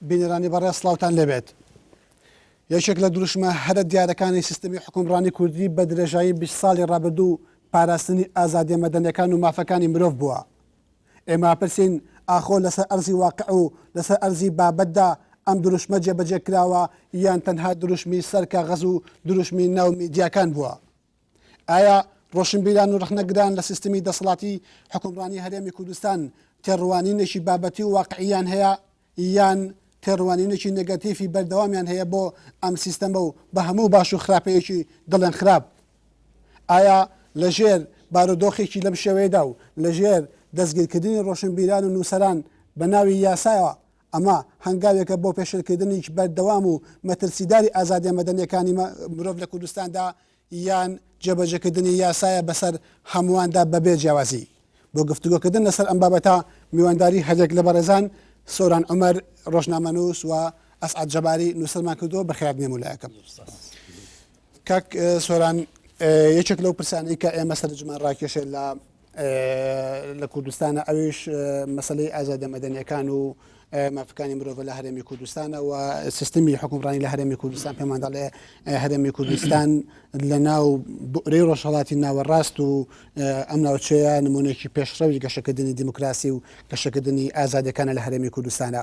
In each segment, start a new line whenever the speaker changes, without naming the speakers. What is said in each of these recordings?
بینەرانی بەڕێ سلااوان لەبێت یەکێک لە دروشمە هەرە دیارەکانی سیستمی حکومڕانی کوردی بە درێژایی 20 ساڵی ڕابردوو پاراستنی ئازادێ مەدەنەکان و مافەکانی مرۆڤ بووە ئێمە پرسین ئاخۆ لەسەر ئەرزی واقع و لەسەر ئەرزی بابەتدا ئەم دروشمە جێبەجێ کراوە یان تەنها دروشمی سەر کاغەز و دروشمی ناو میدیاکان بووە ئایا ڕۆشنبیران و ڕەخنەگران لە سیستمی دەسەڵاتی حوکمڕانی هەرێمی کوردستان تێڕوانینێکی بابەتی و واقعییان هەیە یان تێڕوانینێکی نێگەتیفی بەردەوامیان هەیە بۆ ئەم سیستەمە و بە هەموو باش و خراپەیەکی دەڵێن خراپ؟ ئایا لەژێر بارودۆخێکی لەم شێوەیەدا و لەژێر دەستگیرکردنی ڕۆشنبیران و نووسەران بە ناوی یاسایەوە ئەمە هەنگاوێکە بۆ پێشێلکردنیی بەردەوام و مەترسیداری ئازادییە مەدەنییەکانی مرۆڤ لە کوردستاندا، یان جێبەجێکردنی یاسایە بەسەر هەموواندا بەبێ جیاوازی. بۆ گفتوگۆکردن لەسەر ئەم بابەتە، میوانداری هەریەک لە بەڕێزان سۆران عومەر، ڕۆژنامەنووس و ئەسعەد جەباری، نووسەرمان کردووە، بەخێرات بێن بۆ لایەکەم. کاک سۆران، یەکێک لەو پرسانەی کە ئێمە سەرنجمان ڕاکێشێ لە لە کوردستانە ئەویش مەسلەی ئازادە مەدەنیەکان و مافەکانی مرۆڤ لە هەرێمی کوردستانە و سیستمی حکومڕانی لە هەرێمی کوردستان پێمانداڵێ هەرێمی کوردستان لە ناو بۆرەی ڕۆژهڵاتی ناوەڕاست و ئەم ناوچەیە نمونێکی پێشڕەوی گەشەکردنی دیموکراسی و گەشەکردنی ئازادەکانە لە هەرێمی کوردستانە.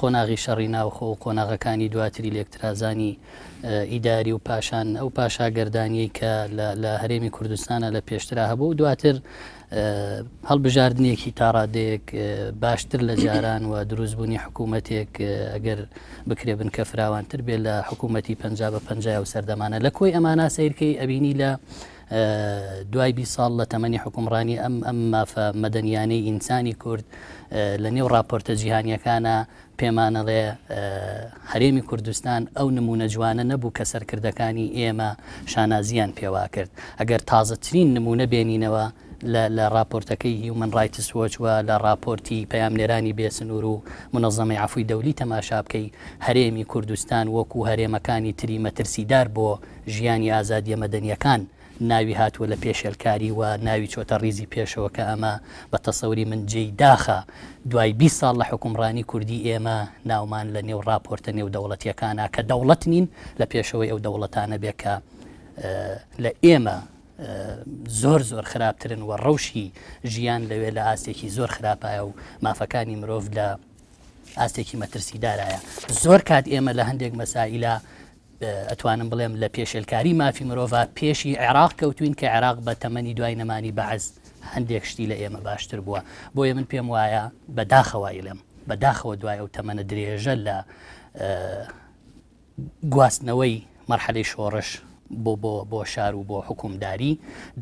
قۆناغی شەڕی ناوخۆ و قۆناغەکانی دواتری لێکترازانی ئیداری و پاشان ئەو پاشاگەردانیەی کە لە هەرێمی کوردستانە لە پێشترا هەبوو دواتر هەڵبژاردنێکی تاڕادێک باشتر لە جاران و دروستبوونی حکوومەتێک ئەگەر بکرێ بن کە فراوانتر بێت لە حکوومەتتی پ بە پ و سەردەمانە لە کۆی ئەمانە سیرکەی ئەبینی لە دوای بیست ساڵ لە تەمەنی حوکمڕانی ئەم ئەم مافە مەدەنیانەی ئینسانی کورد لە نێو ڕاپۆرتە جیهانیەکانە پێمانەڵێ هەرێمی کوردستان ئەو نمونە جوانە نەبوو کە سەرکردەکانی ئێمە شانازیان پێواکرد ئەگەر تازەترین نمونە بێنینەوە لە راپۆرتەکەی هیومن ڕایتس وەچوە لە راپۆرتی پەیامنێرانی بێسنوور و منەزەمەی عفوی دەولی تەماشا بکەی هەرێمی کوردستان وەکو هەرێمەکانی تری مەترسیدار بۆ ژیانی ئازادیە مەدەنیەکان ناوی هاتوە لە پێشێلکاری و ناوی چۆتە ڕیزی پێشەوە کە ئەمە بە تەسەوری من جێی داخە دوای بیست ساڵ لە حکومڕانی کوردی ئێمە ناومان لە نێو ڕاپۆرتە نێودەوڵەتیەکانە کە دەوڵەت نین لە پێشەوەی ئەو دەوڵەتانە بێ کە لە ئێمە زۆر زۆر خراپترن و ڕەوشی ژیان لەوێ لە ئاستێکی زۆر خراپایە و مافەکانی مرۆڤ لە ئاستێکی مەترسیدارایە زۆر کات ئێمە لە هەندێک مەسائلە ئەتوانم بڵێم لە پێشێلکاری مافی مرۆڤا پێشی عێراق کەوتوین کە عێراق بە تەمەنی دوای نەمانی بەعس هەندێک شتی لە ئێمە باشتر بووە بۆیە من پێم وایە بە داخەوە ئیڵێم بە داخەوە دوای ئەو تەمەنە درێژە لە گواستنەوەی مەرحەلەی شۆڕش بۆ بۆ بۆ شار و بۆ حکومداری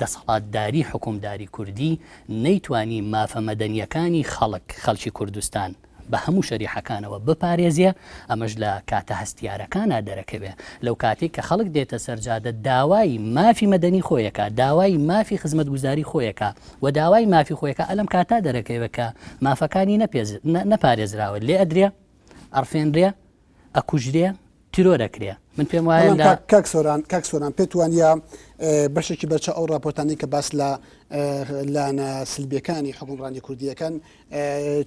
دەسەڵاتداری حکومداری کوردی نەیتوانی مافە مەدەنیەکانی خەڵک خەڵکی کوردستان بە هەموو شەریحەکانەوە بپارێزێ، ئەمەش لە کاتە هەستیارەکانا دەرەکەوێ، لەوکاتەی کە خەڵک دێتە سەر جادە داوای مافی مەدەنی خۆیەکا، داوای مافی خزمەتگوزاری خۆیەکا و داوای مافی خۆیەکا ئەلەم کاتا دەرەکەوێ کە مافەکانی نەپارێزراوە لێ ئەدرێ، ئەڕفێنرێ. ئەکوژرێ تیرۆر ئەکرێ من پێم وایە بەڵام لە کاک کاک سۆران کاک سۆران
پێت وانە بەشێکی بەرچە ئەو راپۆرتانی کە باس لە لانە سلبیەکانی حکومڕانی کوردیەکان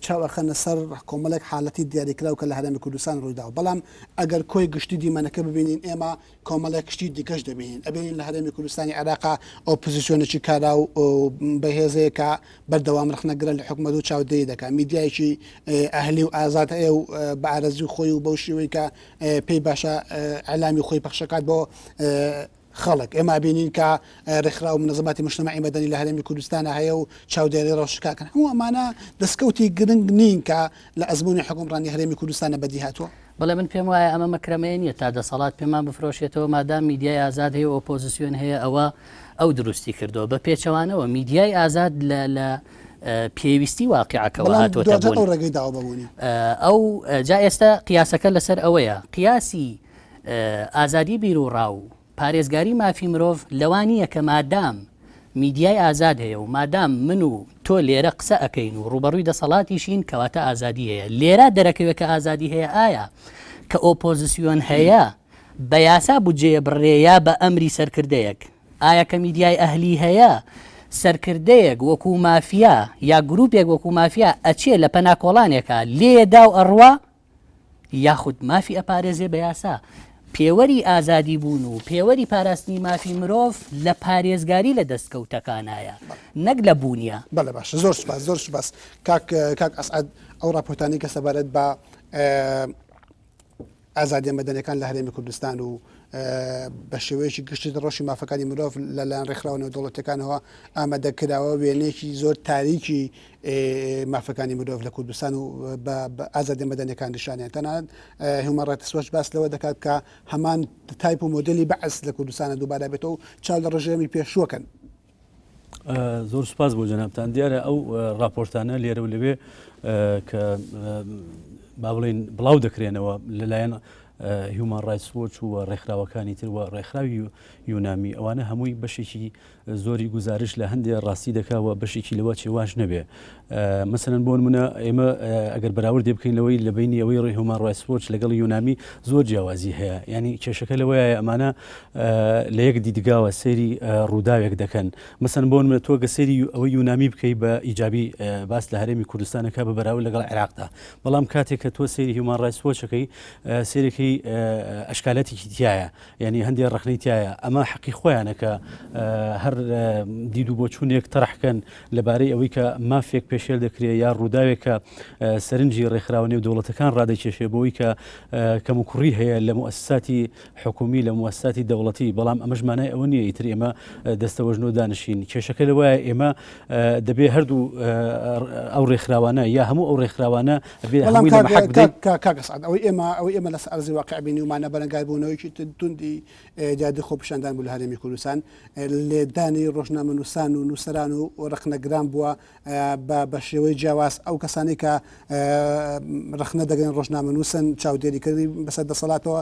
چاوەخەنە سەر کۆمەڵێک حالەتی دیاریکراو کە لە هەرێمی کوردستان ڕوویدا بەڵام ئەگەر کۆی گشتی دیمەنەکە ببینین ئێمە کۆمەڵێک کشتی دیکەش دەبینین ئەبینین لە هەرێمی کوردستانی عێراقا ئۆپزیسیۆنێکی کارا و بەهێزەیە کە بەردەوام رخنەگرە لە حکومەت و چاودێری دەکات میدیایکی ئەهلی و ئازاد هەیە و بە ئارەزوی خۆی و بەو شێوەی کە پێی باشە ئەلامی خۆی پەخشەکات بۆ خەڵک ئێمە بینین کە ڕێکخرا و منەزماتی مشتمەعی مەدەنی لە هەرێمی کوردستانە هەیە و چاودێری ڕەوشکاکەن هەموو ئەمانە دەستکەوتی گرنگ نین کە لە ئەزمموی حکومڕانی هەرێمی کوردستانە بەدیهاتوە بەڵێ من پێم وایە
ئەمە مەکرەمەیە نیە تا دەسەڵات پێمان بفرۆشێتەوە مادام میدیای ئازاد هەیە ئۆپۆزسیۆن هەیە ئەوە ئەو دروستی کردەوە بە پێچەوانەوە میدیای ئازاد لە پێویستی واقعەکەەوە هاتوەتە ڕێگەی داوابوونی
ئەو
جا ئێستا قیاسەکە لەسەر ئەوەیە قیاسی ئازادی بیر و ڕاو پارێزگاری مافی مرۆڤ لەوە نییە کە مادام میدیای ئازاد هەیە و مادام من و تۆ لێرە قسە ئەکەین و ڕووبەڕووی دەسەڵاتیشین کەواتە ئازادی هەیە، لێرە دەرەکەوێ کە ئازادی هەیە ئایا کە ئۆپۆزسیۆن هەیە بە یاسا بودجەیە بڕێ یا بە ئەمری سەرکردەیەک؟ ئایا کە میدیای ئەهلی هەیە سەرکردەیەک وەکوو مافیا یا گرووپێک وەکوو مافیا ئەچێ لە پەنا کۆڵانێکا لێ داو ئەڕوا؟ یاخود مافی ئەپارێزێ بە یاسا، پێوەری ئازادی بوون و پێوەری پاراستنی مافی مرۆڤ لە پارێزگاری لە دەستکەوتەکانایە نەک لە بوونیا. بەڵێ باشە زۆر سوپاس
زۆر سوپاس کاک کاک ئەسعەد ئەو ڕاپۆرتانەی کە سەبارەت بە ئازادیە مەدەنەکان لە هەرێمی کوردستان و بە شێوەیەکی گشتی ڕۆشی مافەکانی مرۆڤ لەلایەن ڕێکخراوە نێودوڵەتەکانەوە ئامادەکراوە وێنێکی زۆر تاریکی مافەکانی مرۆڤ لە کوردستان و بە ئازادیە مەدەنیەکان نیشانیان تەنانەت هیومەن ڕایتس وەچ باس لەوە دەکات کە هەمان تایپ و مۆدلی بەعس لە کوردستانە دووبارە بێتەوە چاو لە ڕژێمی پێشوەکەن
زۆر سپاس بۆ جەنابان دیارە ئەو راپۆرتانە لێرە و لەوێ کە با بڵین بڵاو دەکرێنەوە لەلایەن هیومان ڕایسۆچ و ڕێکخراوەکانی تر و ڕێکخراوی یونامی ئەوانە هەمووی بەشێکی زۆری گوزارش لە هەندێ ڕاستی دەکا و بەشێکی لەوە چێواش نەبێ. مەسەلەن بۆ نموونە ئێمە ئەگەر بەراوردێ بکەین لەوەی لە بەینی ئەوەی ڕێی هیومان ڕایتس وۆچ لەگەڵ یۆنامی زۆر جیاوازی هەیە. یانی کێشەکە لەوەیایە ئەمانە لە یەک دیدگاوە سەیری ڕووداوێک دەکەن. مەسەلەن بۆ نموونە تۆ گە سەیری ئەوەی یۆنامی بکەی بە ئیجابی باس لە هەرێمی کوردستان ئەکا بە بەراورد لەگەڵ عێراقدا. بەڵام کاتێ کە تۆ سەیری هیومان ڕایتس وۆچ ئەکەی سەیرەکەی ئەشکالاتێکی تیایە. یانی هەندێ ڕەخنەی تیایە ئەمە حەقی خۆیانە کە هەر دیدو بۆچوونێک تەرحکەن لەبارەی ئەوەی کە مافێک پێشێل دەکرێت یا ڕووداوێکە سەرنجی ڕێکخراوە نێو دەوڵەتەکان ڕادەکێشێ بۆی کە کەم و کوڕی هەیە لە موسساتی حکومی لە موسساتی دەوڵەتی بەڵام ئەمەشمانای ئەوە نیە ئیتر ئێمە دەستەوەژنۆ دانشین کێشەکە لەوە ئێمە دەبێ هەردوو ئەو ڕێکخراوانە یا هەموو ئەو ڕێکخراوانە بەڵام کاک ئەسعەد
ئەوەی ئێمە ئەوەی ئێمە لەسەر ئەرزی واقع بینیومانە بەرەنگاربوونەوەیەکی توندی دیاردەی خۆپیشاندان بوو لە هەرێمی کوردستان لێکدانی ڕۆژنامەنووسان و نووسەران و ڕەخنەگران بووە بە شێوەی جیاواز ئەو کەسانی کە ڕەخنە دەگەن ڕۆژنامەنووسن چاودێریکردنی بەسەر دەسەڵاتەوە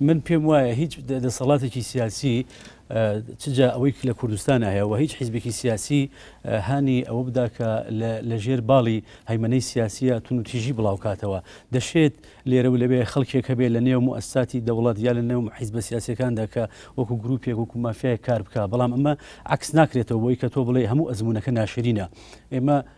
من پێم وایە
هیچ دەسەڵاتێکی سیاسی چ جا ئەوەی لە کوردستان هەیە و هیچ حیزبێکی سیاسی هانی ئەوە بدا کە لە ژێر باڵی هەیمەەی سیاسیە تون و تیژی بڵاوکاتەوە دەشێت لێرە و لەوێ خەڵکێک هەبێ لە نێو موسساتی دەوڵات یا لە نێو حیزبە سیاسەکاندا کە وەکو گروپێک وەکو مافیای کار بکە بەڵام ئەمە عکس ناکرێتەوە بۆی کە تۆ بڵێ هەموو ئەزمونونەکە ناشرینە ئێمە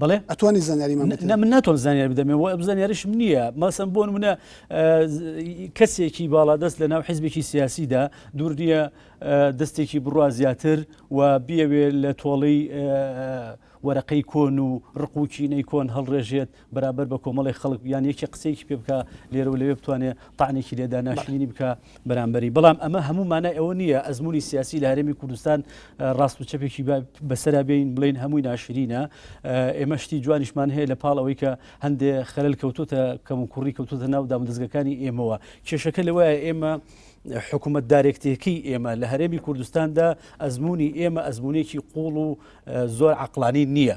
بەڵێ ئەتوانی زانیاریمان
بدەیت؟ نا من ناتوانم زانیاری
بدەم و ئەم زانیاریشم نییە مەسەن بۆ نمونە کەسێکی باڵادەست لە ناو حیزبێکی سیاسیدا دوور نییە دەستێکی بڕوا زیاتر و بیەوێ لە تۆڵەی وەرەقەی کۆن و ڕقوچینەی کۆن هەڵڕێژێت بەرابەر بە کۆمەڵی خەڵک یان یەکی قسەیەکی پێ بکە لێرە و لەوێ بتوانێت تاانێکی لێدا ناشرینی بکە بەرامبەری بەڵام ئەمە هەموو مانای ئەوە نییە ئەزمموی سیاسی لە هەرێمی کوردستان ڕاست و چەپێکی بەسەرا بێین بڵین هەمووی ناشرینە ئێمە شتی جوانیشمان هەیە لە پاڵ ئەوەی کە هەندێ خەلل کەوتوتە کەم و کوڕی کەوتوتە ناو دامودەستگەکانی ئێمەوە کێشەکە لەوە ئێمە حکوومەت دارێکتێکی ئێمە لە هەرێمی کوردستاندا ئەزمموی ئێمە ئەزمونێکی قوڵ و زۆر عقلانی نییە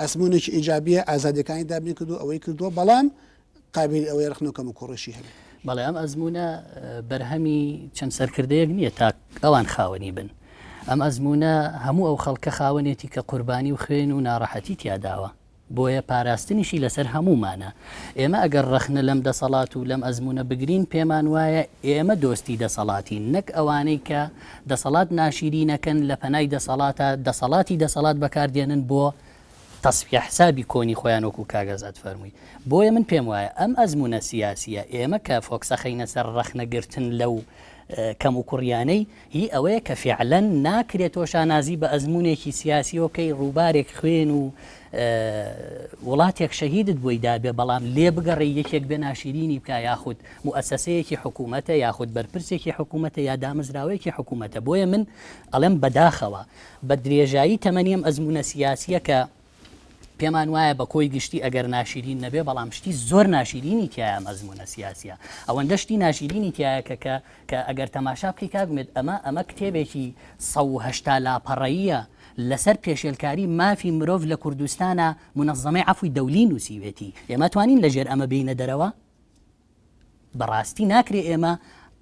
ئەزموونێکی ئیجابییە ئازادیەکانی دابین کردو ئەوەی کردووە بەڵام قابلی ئەوەیە ڕخنە کەم و کوڕیشی هەبێت. بەڵێ ئەم ئەزمونە
بەرهەمی چەند سەرکردەیەک نییە تا ئەوان خاوەنی بن ئەم ئەزمونە هەموو ئەو خەڵکە خاوەنێتی کە قوربانی و خوێن و ناڕەحەتی تیاداوە بۆیە پاراستنیشی لەسەر هەمومانە ئێمە ئەگەر ڕەخنە لەم دەسەڵات و لەم ئەزمونە بگرین پێمان وایە ئێمە دۆستی دەسەڵاتی نەک ئەوانەی کە دەسەڵات ناشیرینەکەن لە پەنای دەسەڵاتە دەسەڵاتی دەسەڵات بەکاردێنن بۆ تەسفیە حسابی کۆنی خۆیان وەکو کاک ئازاد فەرمووی بۆیە من پێم وایە ئەم ئەزمونە سیاسیە ئێمە کە فۆکسەخەینە سەر ڕەخنەگرتن لەو کەم و کوڕیانەی هی ئەوەیە کە فعلەن ناکرێت تۆ شانازی بە ئەزمونێکی سیاسیەوە بکەی ڕووبارێک خوێن و وڵاتێک شەهیدت بۆی دابێ بەڵام لێبگەڕێی یەکێک بێ ناشیرینی بکا یاخود موئەسەسەیەکی حکوومەتە یاخود بەرپرسێکی حکوومەتە یا دامەزراوەیەکی حکوومەتە بۆیە من ئەڵێم بەداخەوە بە درێژایی تەمەنی ئەم ئەزمونە سیاسیە کە پێمان وایە بە کۆی گشتی ئەگەر ناشیرین نەبێ بەڵام شتی زۆر ناشیرینی تایە مەزمونە سیاسە ئەوەندە شتی ناشیرینی تایە کە کە کە ئەگەر تەماشا بکەی کاگومێت ئەمە ئەمە کتێبێکی سەهشتا لاپەڕەیە لەسەر پێشێلکاری مافی مرۆڤ لە کوردستانا منظمەی عەفوی دەولی نوسیوێتی ئێمە توانین لە ژێر ئەمە بێینە دەرەوە؟ بەڕاستی ناکرێ ئێمە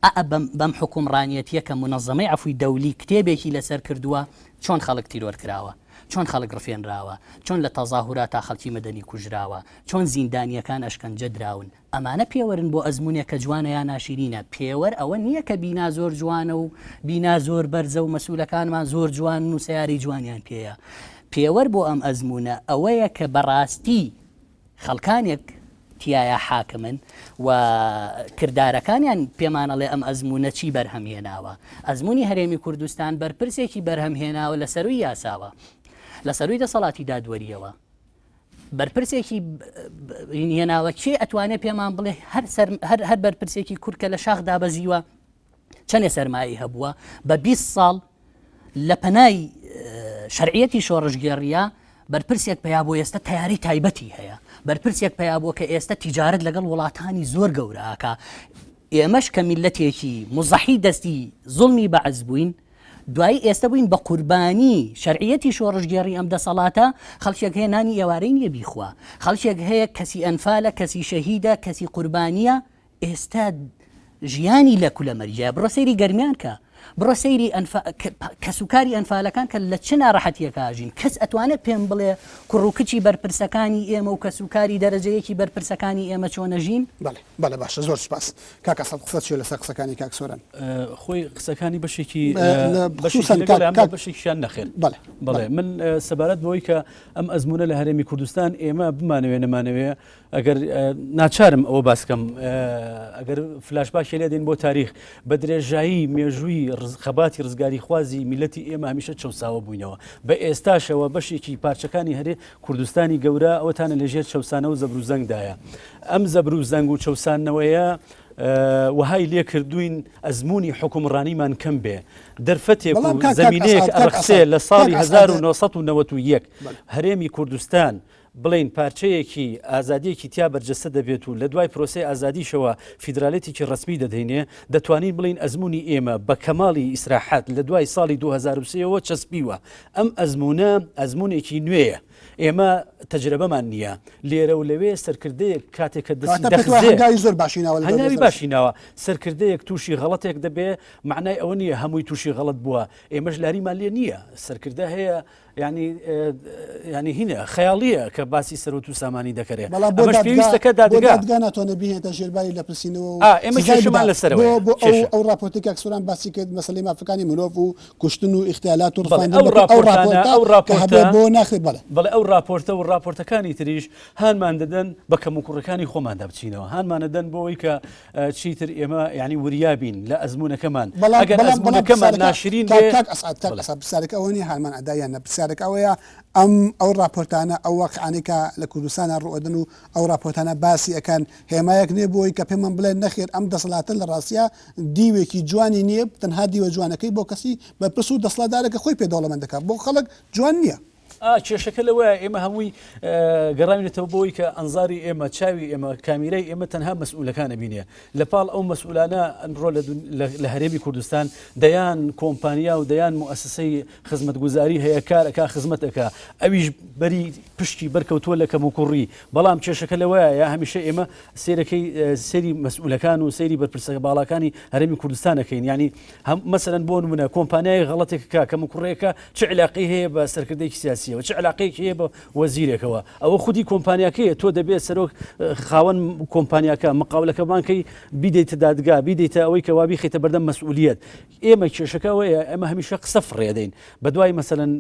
ئئ بەم حوکومڕانیەتیە کە منظمەی عەفوی دەولی کتێبێکی لەسەر کردوە چۆن خەڵک تیرۆر کراوە چۆن خەڵک ڕفێنراوە چۆن لە تەزاهوراتا خەڵکی مەدەنی کوژراوە چۆن زیندانیەکان ئەشکەنجە دراون ئەمانە پێوەرن بۆ ئەزموونێک کە جوانە یا ناشیرینە، پێوەر ئەوە نییە کە بینا زۆر جوانە و بینا زۆر بەرزە و مەسوولەکانمان زۆر جوانن و سەیارەی جوانیان پێیە. پێوەر بۆ ئەم ئەزموونە ئەوەیە کە بەڕاستی خەڵکانێک تیایا حاکمن و کردارەکانیان پێمان ئەڵێ ئەم ئەزموونە چی بەرهەم هێناوە. ئەزموونی هەرێمی کوردستان بەرپرسێکی بەرهەم هێناوە لە سەرووی یاساوە، لە سەرووی دەسەڵاتی دادوەرییەوە. بەرپرسێکی هێناوە کێ ئەتوانێت پێمان بڵێ هەر هەر بەرپرسێکی کورکە لە شاخ دابەزیوە چەندێ سەرمایی هەبووە بە 20 ساڵ لە پەنای شەرعەتی شۆڕژگێڕیە بەرپرسێک پیا بۆ ئێستا تیاری تایبەتی هەیە بەرپرسێک پیا بۆ کە ئێستا تیجارت لەگەڵ وڵاتانی زۆر گەوراکە ئێمەش کە میلەتێکی مزەحی دەستی زڵمی بەعز بووین دوایی ئێستە بووین بە قوربانی شەرعیەتی شۆڕشگێڕی ئەم دەسەڵاتە، خەڵکێک هەیە نانی ئێوارەی نییە بیخوا، خەڵکێک هەیە کەسی ئەنفالە، کەسی شەهیدە، کەسی قوربانییە، ئێستە ژیانی لە کولە مەرییە، بڕۆ سەیری گەرمیان کە، بڕۆ سەیری ئەنف کەسوکاری ئەنفالەکان کە لە چ ناڕەحەتیەکە ئاژین، کەس ئەتوانێت پێم بڵێ کوڕ و کچی بەرپرسەکانی ئێمە و کەسوکاری دەرەجەیەکی بەرپرسەکانی ئێمە چۆنەژین؟ بەڵێ بەڵێ باشە زۆر
سوپاس کاک ئەسەد قسەت چیە لەسەر قسەکانی کاک سۆران خۆی
قسەکانی بەشێکی بەشێکیان نەخێر بڵێ من سەبارەت بۆی کە ئەم ئەزمونە لە هەرێمی کوردستان ئێمە بمانەوێ نەمانەوێ ئەگەر ناچارم ئەوە باسکەم ئەگەر فلاش باشی لێ دێن بۆ تاریخ بە درێژایی مێژووی خەباتی ڕزگاری خوازی میلەتی ئێمە هەمیشە چەساوە بووینەوە بە ئێستاشەوە بەشێکی پارچەکانی هەرێ کوردستانی گەورە ئەوەتانە لە ژێر چەوسانە و زەبر و زەنگدایە ئەم زەبر و زەنگ و چەوسانەوەیە وهای لێ کردوین ئەزمموی حکومڕانیمان کەم بێ دەرفەتێک و زمینەیەک ئەرخسێ لە ساڵی 1991 هەرێمی کوردستان بڵین پارچەیەکی ئازادیەکی تیا بەرجەستە دەبێت و لە دوای پرۆسی ئازادیشەوە فیدراالێتێکی ڕسمی دەدەینێ دەتوانین بڵین ئەزمموی ئێمە بە کەماڵی ئیسراحات لە دوای ساڵی 2023ەوە چەسپیوە ئەم ئەزموونە ئەزموونێکی نوێیە، ئێمە تەجرەبەمان نییە، لێرە و لەوێ سەرکردەیەک کاتێک کە دەستی دەخزێ،
هەنگاوی باشی ناوە،
سەرکردەیەک تووشی غەڵەتێک دەبێ، مەعنای ئەوە نییە هەمووی تووشی غەڵەت بووە، ئێمەش لاریمان لێ نییە، سەرکردە هەیە یانی یانی هینە خەیاڵییە کە باسی سەروەت و سامانی دەکەێ بەڵام پێویستەکە دادگا ناتوانە بهێنێتە
ژێرباری لە پرسینەوە ئێمە کێشمان
لەسەرەوە بۆ ئەو ڕاپۆتێکێک
سوران باسی کرد مەسلی مافەکانی مرۆڤ و کوشتن و ئیختیالات و بەڵێ ڕفاندن ئەو بەپێی ئەو ڕاپۆرتانە ڕاپۆرتە ئەو کە ڕاپۆرتە هەبێت بۆ ناخێت بەڵێ. بەڵێ ئەو ڕاپۆرتە
و ڕاپۆرتەکانی تریش هانمان دەدەن بە کەموکوڕیەکانی خۆماندا بچینەوە هانمان دەدەن بۆ ئەوەی کە ە چیتر ئێمە یانی وریا بین لە ئەزموونەکەمان بەڵام ئەگەر بەڵام بەڵام ئەزموونەکەمان پرسیارەکە ناشرین کاک بێ کاک ئەسعەد کاک بڵێ. ئەسعەد
پرسیارەکە ئەوە نییە هانمان ئەدا یان نە پرسیارەکە ئەوەیە ئەم ئەو ڕاپۆرتانە ئەو واقیعانەی کە لە کوردستانا ڕوو ئەدەن و ئەو ڕاپۆرتانە باسی ئەکەن هێمایەک نییە بۆ ئەوەی کە پێمان بڵێن نەخێر ئەم دەسەڵاتە لە ڕاستیا دیوێکی جوانی نییە تەنها دیوە جوانەکەی بۆ کەسی بەرپرس و دەسڵاتدارە کە خۆی پێ دەوڵەمەند دەکات بۆ خەڵک جوان نییە. ئا کێشەکە
لەوەیە ئێمە هەمووی گەڕاوینەتەوە بۆی کە ئەنزاری ئێمە چاوی ئێمە کامیرای ئێمە تەنها مەسئولەکان ئەبینێ لە پاڵ ئەو مەسئولانە ئەمڕۆ لە هەرێمی کوردستان دەیان کۆمپانیا و دەیان موسسەی خزمەتگوزاری هەیە کارەکە خزمەتەکە ئەویش بەری پشتی بەرکەوتووە لە کەموکوڕی بەڵام کێشەکە لەوەیە هەمیشە ئێمە سەیرەکەی سەیری مەسئولەکان و سەیری بەرپرسە باڵاکانی هەرێمی کوردستان دەکەین یعنی هەم مەسەرەن بۆ نمونە کۆمپانیای غەڵەتێک کا کەم و کوڕێکە چ علاقی هەیە بە سەرکردێکی سیاسیەوە چ علاقێک هەیە بە وەزیرێکەوە ئەوە خودی کۆمپانیاکەیە تۆ دەبێت سەرۆک خاوەن کۆمپانیاکە مقاولەکەمانکەی بیدەیتە دادگا بیدەیتە ئەوەی کەوابی خیتە بەردەم مەسئولیت ئێمە کێشەکەەوەیە ئەمە هەمیشە قسە فڕێدەین بەدوای مەسەن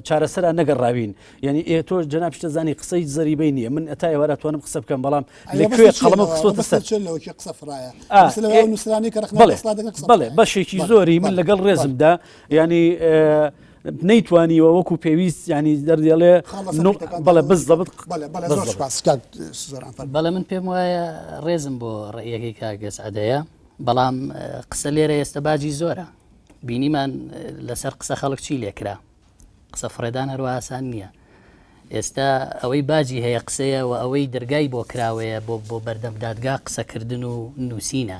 چارەسەرا نەگەڕاوین یانی ئێ تۆش جەناب شتە زانی قسە هیچ زەریبەی نییە من ئەتا ئێوارە توانم قسە بکەم بەڵام لە کوێ قەڵمە قسەتە سەر قسە فرایە نووسانی کە بڵێ بەشێکی زۆری من لەگەڵ ڕێزمدا ینی نەیتوانیوە وەکو پێویست ینی دەردێڵێ بەڵێ بز دەبت
بەڵێ من پێم وایە ڕێزم بۆ ڕێیەکەی کاگەس ئەدەیە بەڵام قسە لێرە ئێستا باجی زۆرە بینیمان لەسەر قسە خەڵک چی لێکرا قسە فڕێدان هەروا ئاسان نیە ئێستا ئەوەی باجی هەیە قسەیە و ئەوەی دەرگای بۆ کراوەیە بۆ بۆ بەردەم دادگا قسەکردن و نووسینە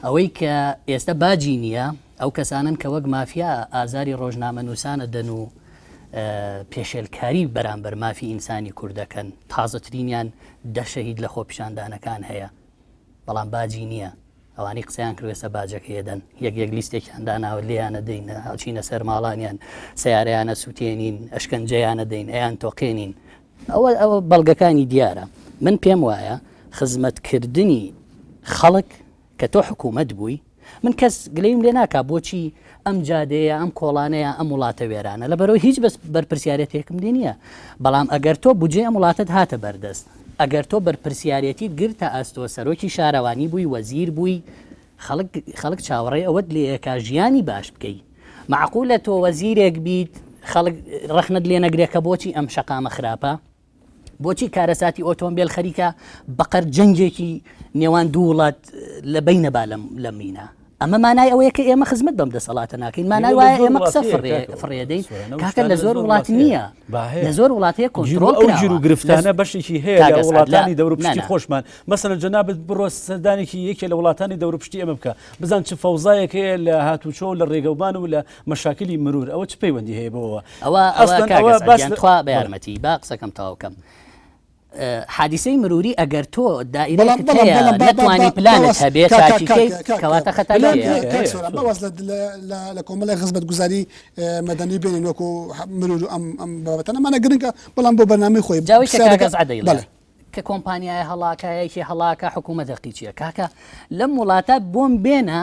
ئەوەی کە ئێستا باجی نییە ئەو کەسانن کە وەک مافیا ئازاری ڕۆژنامە نووسانە دەن و پێشێلکاری بەرامبەر مافی ئینسانی کوردەکەن تازەترینیان دەشەهید لە خۆپیشاندانەکان هەیە بەڵام باجی نییە ئەوانەی قسەیان کرد ئێستا باجەکەی ئەدەن یەک یەک لیستێکیان داناوە لێیانە دەین ئەچینە سەر ماڵانیان سیارەیان ئەسووتێنین ئەشکەنجەیان ئەدەین ئەیان تۆقێنین ئەوە ئەوە بەڵگەکانی دیارە من پێم وایە خزمەتکردنی خەڵک کە تۆ حکوومەت بووی من کەس گلەیم لێ ناکا بۆچی ئەم جادەیە ئەم کۆڵانەیە ئەم وڵاتە وێرانە لە بەرەوەی هیچ بەس بەرپرسیارەتێکم لێ نییە بەڵام ئەگەر تۆ بودجەی ئەم وڵاتت هاتە بەردەست ئەگەر تۆ بەرپرسیارەتیت گرتە ئەستۆ سەرۆکی شارەوانی بووی وەزیر بووی خەڵک خەڵک چاوەڕێی ئەوەت لێکا ژیانی باش بکەی مەعقولە تۆ وەزیرێک بیت خەڵک ڕەخنەت لێ نەگرێت کە بۆچی ئەم شەقامە خراپە بۆچی کارەساتی ئۆتۆمبێل خەریکە بەقەر جەنگێکی نێوان دوو وڵات لە بینە با لە مینە ئەمە مانای ئەوەیە کە ئێمە خزمەت بەم دەسەڵاتە ناکەین مانای وایە ئێمە قسە فڕێدەین کاکە لە زۆر وڵات نییە لە زۆر وڵات هەیە کۆنترۆل ژیر و گرفتانە
بەشێکی هەیە لە وڵاتانی دەوروپشتی خۆشمان مەسەن جەنابەت بڕۆ سەردانێکی یەکێ لە وڵاتانی دەوروپشتی ئەمە بکە بزان چ فەوزایەک هەیە لە هاتوچۆ لە ڕێگەوبان و لە مەشاکلی مرور ئەوە چ پەیوەندی هەیە بەوەوە ئەوە ئەسڵەن ئەوە باس
تخوا بە یارمەتی با قسەکەم تاوکەم حادیسەی مروری ئەگەر تۆ دائیرەتوانی پلانت هەبێت کەواتە خەتا
لە کۆمەڵی خزمەت گوزاری مەدەنی بێنین وەکو مرور ئەم ئەم بابەتەنەمانە گرنگە بەڵام بۆ بەنامی خۆی جاوی
کە کۆمپانیای هەڵاکایەکی هەڵاکە حکوومەت دەقیچیە کاکە لەم وڵاتە بۆم بێنە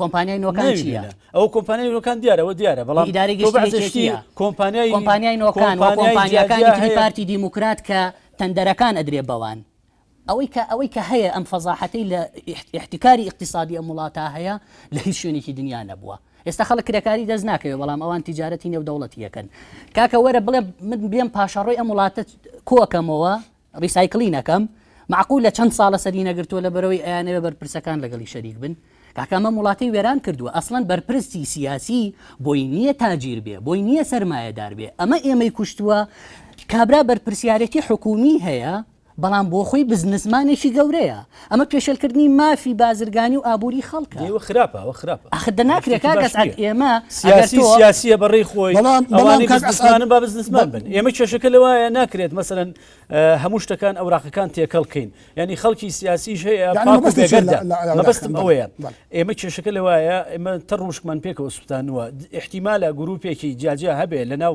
کۆمپانیای
نۆکان چیە؟ ئەو کۆمپانیای نۆکان
دیارە ئەوە دیارە بەڵام ئیدارەی گشتی کۆمپانیای کۆمپانیای
نۆکان کۆمپانیاکانی پارتی دیموکرات کە تەندەرەکان ئەدرێ بەوان ئەوەی کە ئەوەی کە هەیە ئەم فەزاحەتەی لە احتیکاری اقتصادی ئەم وڵاتە هەیە لە هیچ شوێنێکی دنیا نەبووە ئێستا خەڵک کرێکاری دەست ناکەوێت بەڵام ئەوان تیجارەتی نێو دەوڵەتی یەکەن کاکە وەرە بڵێ من بێم پاشەڕۆی ئەم وڵاتە کۆکەمەوە ڕیسایکڵی نەکەم مەعقولە چەند ساڵە سەری نەگرتووە لەبەرەوەی ئەیانەوێ بەرپرسەکان لەگەڵی شەریک بن کاکە ئەمەم وڵاتی وێران کردووە ئەسڵەن بەرپرسی سیاسی بۆی نییە تاجیر بێ بۆی نییە سەرمایەدار بێ ئەمە ئێمەی کوشتووە کابرا بەرپرسیارێتی حکومی هەیە بەڵام بۆ خۆی بزنسمانێکی گەورەیە ئەمە پێشێلکردنی مافی بازرگانی و ئابووری خەڵکە ئەوە خراپە ئەوە خراپە
ئەخ ناکرێت
کاک ئەسعەد ئێمە سیاسی سیاسیە
بەڕێی خۆی ئەوانەی کاک ئەسعەدن با بزنسمان بن ئێمە کێشەکە لەوایە ناکرێت مەسەرەن هەموو شتەکان ئەوراقەکان تێکەڵ کەین ینی خەڵکی سیاسیش هەیە مەبستم ئەوەیە ئێمە کێشەکە لەوایە ئێمە تە ڕوشکمان پێکەوە سووتانوە احتیمالە گروپێکی جیاجیا هەبێ لەناو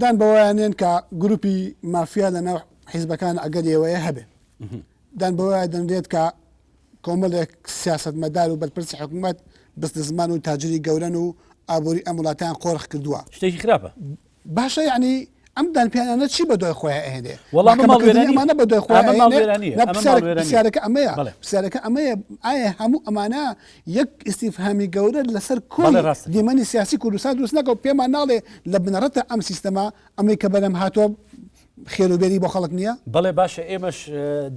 دان بەوەیا نێن کە گروپی مافیا لە ناو حیزبەکان ئەگەری ئەوەیە هەبێ. دان بەوەیا دەنرێت کە کۆمەلێک سیاسەتمەدار و بەرپرسی حکومەت بزنسمان و تاجری گەورەن و ئابوری ئەم وڵاتەیان قۆرخ کردوە. شتێکی خراپە.
باشە
یەعنی ئەم دانپیانانە چی بەدوای خۆیا ئەهێنێ؟ وەڵا ئەمە ماڵ وێرانیە. ئەمانە
بەدوای خۆیان ئەمە ماڵ ئەهێنێ؟ وێرانیە.
نا ئەمە ماڵ پرسیارەکە وێرانیە. پرسیارەکە ئەمەیە بەڵێ. پرسیارەکە ئەمەیە ئایا هەموو ئەمانە یەک ئیستیفهامی گەورە لەسەر کۆی بەڵێ ڕاستە. دیمەنی سیاسی کوردستان دروست ناکا و پێمان ناڵێ لە بنەڕەتدا ئەم سیستەمە ئەمەی کە بەرهەم هاتووە خێر و بێری بۆ خەڵک نییە؟ بەڵێ باشە ئێمەش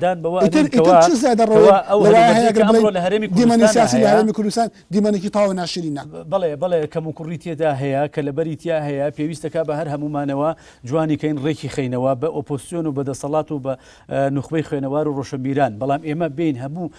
دان بەوە ئیتر ئەنێین کەوا ئیتر چ زیادە ڕەوێک کەوا ئەو لەوایە هەلومەرجەی هەیە کە گەر
بڵێین ئەمڕۆ لە هەرێمی دیمەنی کوردستاندا سیاسی لە هەیە هەرێمی کوردستان دیمەنێکی تەواو ناشرینە. بەڵێ بەڵێ کەموکوڕی
تێدا هەیە کە لەبەری تیا هەیە پێویستە کا بە هەر هەموومانەوە جوانی کەین ڕێکی خەینەوە بە ئۆپۆزسیۆن و بە دەسەڵات و بە نوخبەی خوێنەوار و ڕۆشەنبیران بەڵام ئێمە بێین هەموو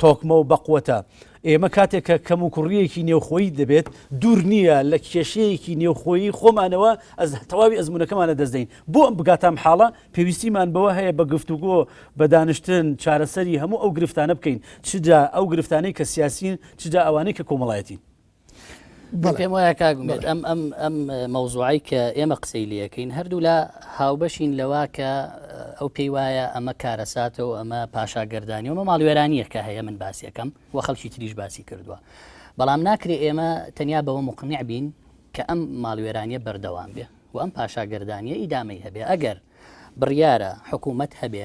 تۆکمە و بەقوەتە. ئێمە کاتێک کە کەموکوڕییەکی نێوخۆیی دەبێت، دوور نییە لە کێشەیەکی نێوخۆیی خۆمانەوە تەواوی ئەزموونەکەمان لەدەست دەین. بۆ ئەم بگاتام حاڵە، پێویستیمان بەوە هەیە بە گفتوگۆ، بە دانیشتن، چارەسەری هەموو ئەو گرفتانە بکەین، چ جا ئەو گرفتانەی کە سیاسیین، چ جا ئەوانەی کە کۆمەڵایەتین.
پێم وایە کاگومێت ئەم ئەم ئەم مەوزوعی کە ئێمە قسەی لەکەین هەردوو لە هاوبەشین لەوا کە ئەو پێی وایە ئەمە کارەساتە و ئەمە پاشاگەردانی ومە ماڵوێرانیە کە هەیە من باسیەکەم و خەڵکی تریش باسی کردووە بەڵام ناکرێ ئێمە تەنیا بەوە مقنع بین کە ئەم ماڵوێرانیە بەردەوام بێ و ئەم پاشاگەردانیە ئیدامەی هەبێ ئەگەر بڕیارە حکوومەت هەبێ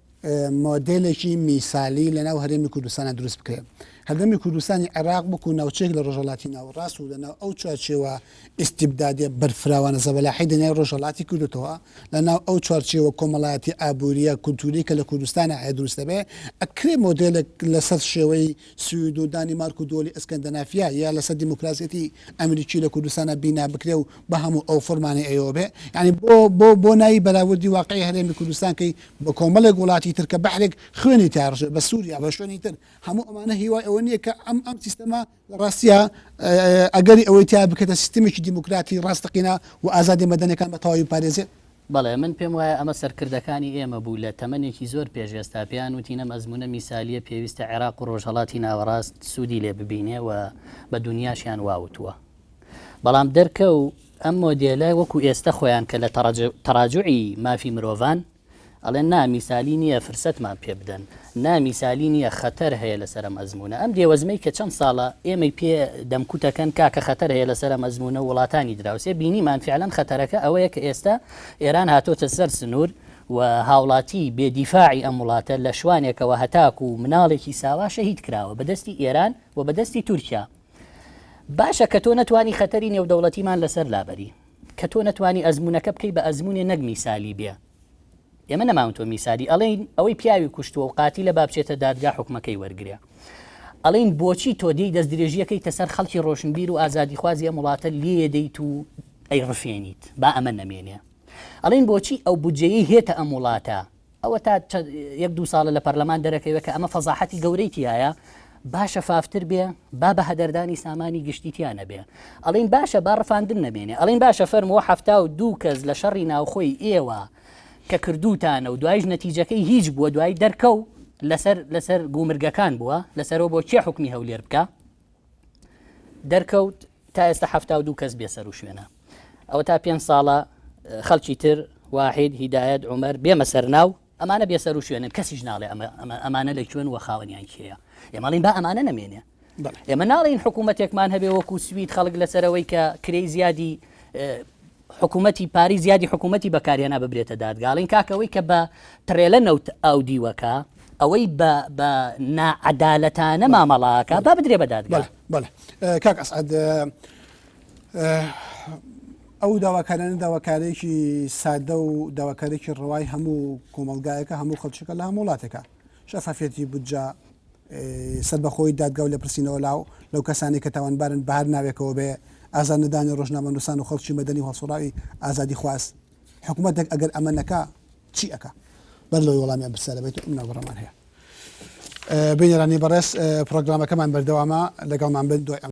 مۆدێلێکی میسالی لەناو هەرێمی کوردستانە دروست بکرێت هەردەمی کوردستانی عێراق بکو ناوچێک لە ڕۆژەڵاتی ناوەڕاست و لەناو ئەو چوارچێوە ئیستیبدادێ بەرفراوانە زەبەلاحی دنیای ڕۆژەڵاتی کردوتەوە لەناو ئەو چوارچێوە کۆمەڵایەتی ئابووریە کولتوری کە لە کوردستانە هەیە دروست دەبێ ئەکرێ مۆدێلێک لەسەر شێوەی سوید و دانیمارک و دۆلی ئەسکەندەنافیا یا لەسەر دیموکراسیەتی ئەمریکی لە کوردستانە بینا بکرێ و بە هەموو ئەو فۆرمانی ئەوێ بێ یعنی بۆ بۆ بۆ ناوی بەراوردی واقعی هەرێمی کوردستان کەی بە کۆمەڵێک وڵاتی تر کە بەحرێک خوێنی تیا ڕژێ بە سووریا بە شوێنی تر هەموو ئەمانە هیوای ئەوە نییە کە ئەم ئەم سیستەما لە ڕاستە ئەگەری ئەوەی تیا بکەێتە سیستمێکی دیموکراتی ڕاستەقینا و ئازادی مەدەنەکان بە تەواوی پارێزێت بەڵێ من پێم
وایە ئەمە سەرکردەکانی ئێمە بوو لە تەمەنێکی زۆر پێش ئێستا پێیان وتین ئەم ئەزمونە میسالیە پێویستە عێراق و ڕۆژهەڵاتی ناوەڕاست سوودی لێ ببینێ و بە دونیاشیان واوتووە. بەڵام دەرکەو ئەم مۆدێلە وەکو ئێستە خۆیان کە لە تەڕاجوعی مافی مرۆڤان ئەڵێن نا میسالی نییە فرسەتمان پێ بدەن نا میسالی نییە خەتەر هەیە لەسەر ئەم ئەزمونە ئەم دێوەزمەی کە چەند ساڵە ئێمەی پێ دەمکوتەکەن کاکە خەتەر هەیە لەسەر ئەم ئەزمونە وڵاتانی دراوسێ بینیمان فعلەن خەتەرەکە ئەوەیە کە ئێستا ئێران هاتۆتە سەر سنوور و هاوڵاتی بێدیفاعی ئەم وڵاتە لە شوانێکەوە هەتاکو و مناڵێکی ساوا شەهید کراوە بەدەستی ئێران و بەدەستی تورکیا باشە کە تۆ نەتوانی خەتەری نێودەوڵەتیمان لەسەر لابەری کە تۆ نەتوانی ئەزمونونەکە بکەی بە ئەزمونێ نەک میسالی بێ ئێمە نەماون تۆ میسالی ئەڵین ئەوەی پیاوی کوشتووە و قاتی لە بابچێتە دادگا حکومەکەی وەرگێ ئەڵین بۆچی تۆ دی دەست درێژیەکەی تەسەر خەڵکی ڕۆشنبیر و ئازادی خوازیە وڵاتە لێ دەیت و ئەی ڕفێنیت با ئەمە نەمێنێ ئەڵین بۆچی ئەو بودجەیە هێتە ئەم وڵاتە ئەوەتا چەند یەک دوو ساڵە لە پەرلەمان دەرەکەوێت کە ئەمە فەزاحەتی گەورەی تیایە با شەفافتر بێ با بە هەدەردانی سامانی گشتی تیا نەبێ ئەڵین باشە با ڕفاندن نەمێنێ ئەڵین باشە فەرمووە حەفتا و دوو کەس لە شەڕی ناوخۆی ئێوە کە کردوتانە و دوایش نەتیجەکەی هیچ بووە دوای دەرکەو لەسەر لەسەر گومرگەکان بووە لەسەرەوە بۆ چێ حکومی هەولێر بکە دەرکەوت تا ئێستا حفتا و دوو کەس بێ سەر و شوێنە ئەوە تا پێنج ساڵە خەڵکی تر واحد هیدایەت عمر بێمە سەرناو ئەمانە بێ سەر و شوێنن کەسیش ناڵێ ئەمانە لە کوێن وە خاوەنیان کێە ئێمەڵین با ئەمانە نەمێنێ ئێمە ناڵین حکوومەتێکمان هەبێ وەکو سوید خەڵک لەسەرەوەی کە کرێی زیادی حکومەتی پاریس یادی حکومەتی بەکارهێنا ببرێتە دادگا ئەڵێن کاکە ئەوەی کە بە تڕێلە نەوت ئاو دیوەکە ئەوەی بە بە ناعەدالەتانە مامەڵاکە با بدرێ بە دادگا کاک
ئەسعد ئەو داواکارانە داواکارێکی سادە و داواکارێکی ڕەوای هەموو کۆمەلگایەکە هەموو خەلچەکە لە هەموو وڵاتەکە شەفافەتی بودجا سەربەخۆیی دادگا و لێپرسینەوە لاو لەو کەسانەی کە تاوانبارن بە هەر ناوێکەوە بێ، ئازار نەدانی ڕۆژنامەنووسان و خەڵکی مەدەنی و هەڵسوڕاوی ئازادیخواز. حکومەتێک ئەگەر ئەمە نەکا چی ئەکا؟ بەر لەوەی وەڵامی ئەم پرسیارە بەیتەوە ئەم ناوبڕەمان هەیە. بینەرانی بەڕێز پڕۆگرامەکەمان بەردەوامە لەگەڵمان بن دوای ئەم.